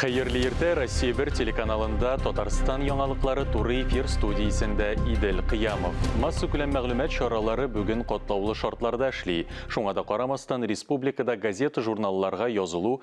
Хәерле иртә Россия бер телеканалында Татарстан яңалыклары туры эфир студиясендә Идел Кыямов. Массу күләм мәгълүмат чаралары бүген котлаулы шартларда эшли. Шуңа да карамастан республикада газета-журналларга язылу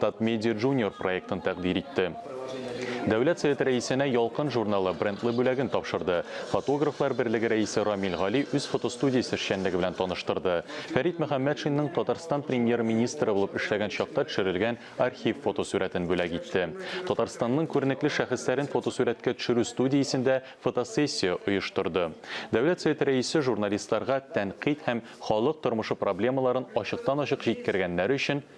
Татмедиа Junior проектын тәкъдир итте. Дәүләт Советы рәисенә Ялкын журналы брендлы бүләген тапшырды. Фотографлар берлеге рәисе Рамил Гали үз фотостудиясе эшчәнлеге белән таныштырды. Фәрит Мөхәммәтшинның Татарстан Премьер-министры булып эшләгән чакта төшерелгән архив фотосурәтен бүләк итте. Татарстанның күренекле шәхесләрен фотосурәткә төшерү студиясендә фотосессия оештырды. Дәүләт Советы рәисе журналистларга тәнкыйть һәм халык тормышы проблемаларын ачыктан-ачык җиткергәннәре өчен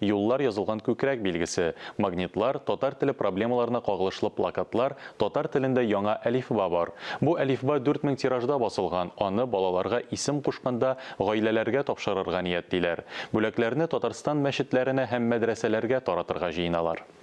юллар язылган күкрәк билгесе, магнитлар, татар теле проблемаларына кагылышлы плакатлар, татар телендә яңа әлифба бар. Бу әлифба дүрт мең тиражда басылган, аны балаларга исем кушканда гаиләләргә тапшырырга ниятлиләр. Бүләкләрне Татарстан мәчетләренә һәм мәдрәсәләргә таратырга җыеналар.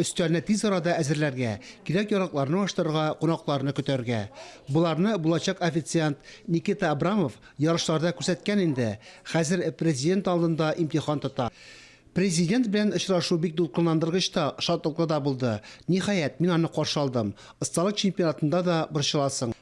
Өстәлне тиз арада әзерләргә, кирәк-яракларны ачтырырга, кунакларны көтәргә. Боларны булачак официант Никита Абрамов ярышларда күрсәткән инде, хәзер Президент алдында имтихан тота. Президент белән очрашу бик дулкынландыргыч та, шатлыклы да булды. Ниһаять, мин аны каршы алдым. Осталык чемпионатында да борчыласың.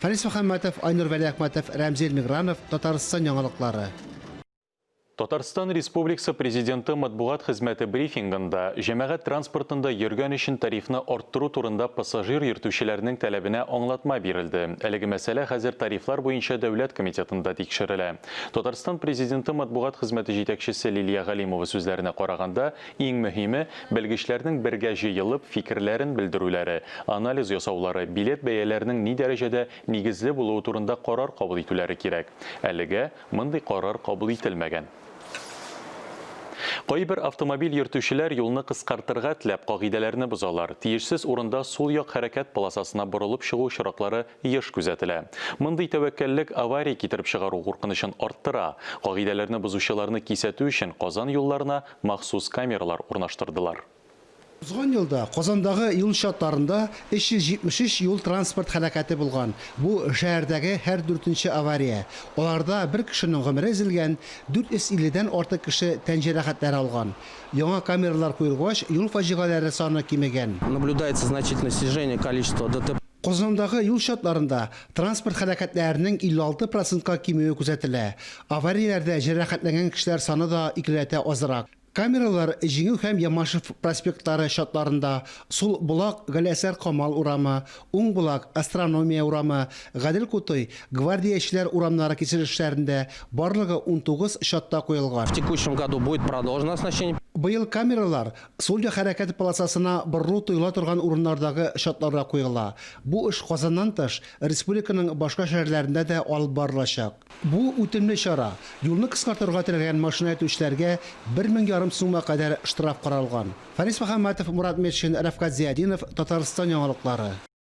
Фәнис Мөхәммәтов, Айнур Вәлиәхмәтов, Рәмзил Мигранов, Татарстан яңалыклары. Татарстан Республиксы Президенты матбугат хезмәте брифингында җәмәгать транспортында йөргән өчен тарифны арттыру турында пассажир йөртүчеләрнең тәләбенә аңлатма бирелде. Әлеге мәсьәлә хәзер Тарифлар буенча дәүләт комитетында тикшерелә. Татарстан Президенты матбугат хезмәте җитәкчесе Лилия Галимова сүзләренә караганда, Иң мөһиме, белгечләрнең бергә җыелып, фикерләрен белдерүләре, анализ ясаулары, билет бәяләренең ни дәрәҗәдә нигезле булуы турында карар кабул итүләре кирәк. Әлегә мондый карар кабул ителмәгән. Кайбер автомобиль йөртүчеләр юлны кыскартырга теләп кагыйдәләрне бозалар, тиешсез урында сул як хәрәкәт полосасына борылып чыгу очраклары еш күзәтелә. Мондый тәвәккәллек авария китереп чыгару куркынычын арттыра. Кагыйдәләрне бозучыларны кисәтү өчен Казан юлларына махсус камералар урнаштырдылар. Узган елда Казандагы юл чатларында 373 юл-транспорт һәлакәте булган, бу, шәһәрдәге һәр дүртенче авария. Аларда бер кешенең гомере өзелгән, 450 дән артык кеше тән җәрәхәтләре алган. Яңа камералар куелгач, юл фаҗигаләре саны кимегән. Наблюдается значительное снижение количества ДТП. Казандагы юл чатларында транспорт һәлакәтләренең 56 процентка кимүе күзәтелә. Аварияләрдә җәрәхәтләнгән кешеләр саны да икеләтә азрак. Камералар Җиңү һәм Ямашев проспектлары чатларында, сул Болак, Галиәсәр Камал урамы, уң Болак, Астрономия урамы, Гадел Кутуй, Гвардиячеләр урамнары киселешләрендә, барлыгы унтугыз чатта куелган. В текущем году будет продолжено оснащение. Быел камералар Судья хәрәкәте полосасына борылу тоела торган урыннардагы чатларга куела. Бу эш Казаннан тыш, республиканың башка шәһәрләрендә дә алып барылачак. Бу үтемле чара. Юлны кыскартырга теләгән машина йөртүчеләргә бер мең ярым сумга кадәр штраф каралган. Фарис Мөхәммәтов, Мурат Метшин, Рәфкать Зыятдинов, Татарстан яңалыклары.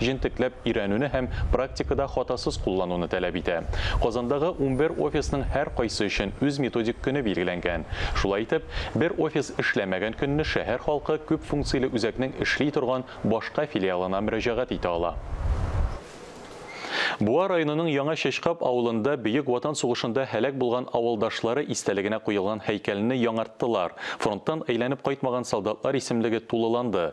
җентекләп өйрәнүне һәм практикада хатасыз куллануны таләп итә. Казандагы унбер офисның һәркайсы өчен үз методик көне билгеләнгән. Шулай итеп, бер офис эшләмәгән көнне шәһәр халкы күп функцияле үзәкнең эшли торган башка филиалына мөрәҗәгать итә ала. Буа районының Яңа Чәчкап авылында Бөек Ватан сугышында һәлак булган авылдашлары истәлегенә куелган һәйкәлне яңарттылар, фронттан әйләнеп кайтмаган солдатлар исемлеге тулыланды,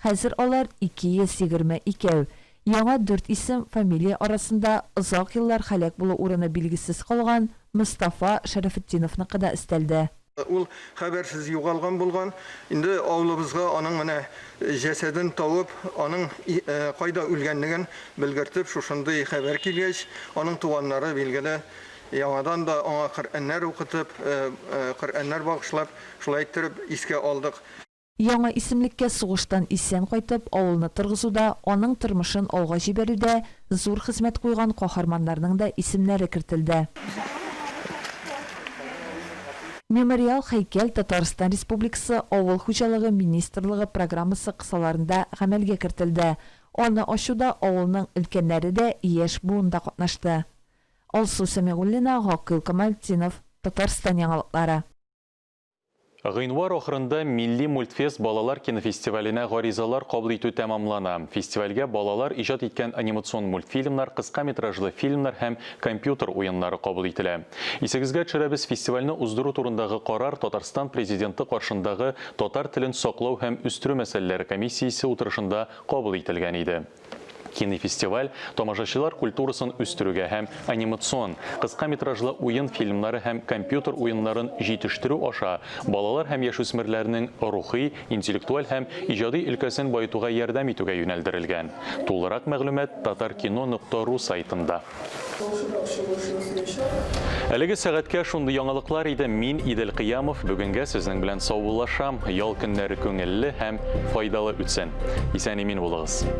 Хәзер алар 222. Яңа дүрт исем, фамилия арасында озак еллар һәлак булу урыны билгесез калган Мостафа Шәрәфетдиновныкы да өстәлде. Ул хәбәрсез югалган булган. Инде авылыбызга аның менә җәсәден табып, аның кайда үлгәнлеген белгертеп, шушындый хәбәр килгәч, аның туганнары, билгеле, яңадан да аңа Коръәннәр укытып, Коръәннәр багышлап, шулай иттереп искә алдык. Яңа исемлеккә сугыштан исән кайтып, авылны торгызуда, аның тормышын алга җибәрүдә зур хезмәт куйган каһарманнарның да исемнәре кертелде. Мемориал һәйкәл Татарстан Республикасы Авыл хуҗалыгы министрлыгы программасы кысаларында гамәлгә кертелде. Аны ачуда авылның өлкәннәре дә, яшь буын да катнашты. Алсу Сәмигуллина, Гакыйл Камалтдинов, Татарстан яңалыклары. Гыйнвар ахырында Милли мультфест балалар кинофестиваленә гаризалар кабул итү тәмамлана. Фестивальгә балалар иҗат иткән анимацион мультфильмнар, кыска метражлы фильмнар һәм компьютер уеннары кабул ителә. Исегезгә төшерәбез, фестивальне уздыру турындагы карар Татарстан Президенты каршындагы татар телен саклау һәм үстерү мәсьәләләре комиссиясе утырышында кабул ителгән иде. Кинофестиваль тамашачылар культурасын үстерүгә һәм анимацион, кыска метражлы уен фильмнары һәм компьютер уеннарын җитештерү аша балалар һәм яшүсмерләрнең рухи, интеллектуаль һәм иҗади өлкәсен баетуга ярдәм итүгә юнәлдерелгән. Тулырак мәгълүмат Татаркино нокта ру сайтында. Әлеге сәгатькә шундый яңалыклар иде. Мин Идел Кыямов бүгенгә сезнең белән саубуллашам. Ял көннәре күңелле һәм файдалы үтсен. Исән-имин булыгыз.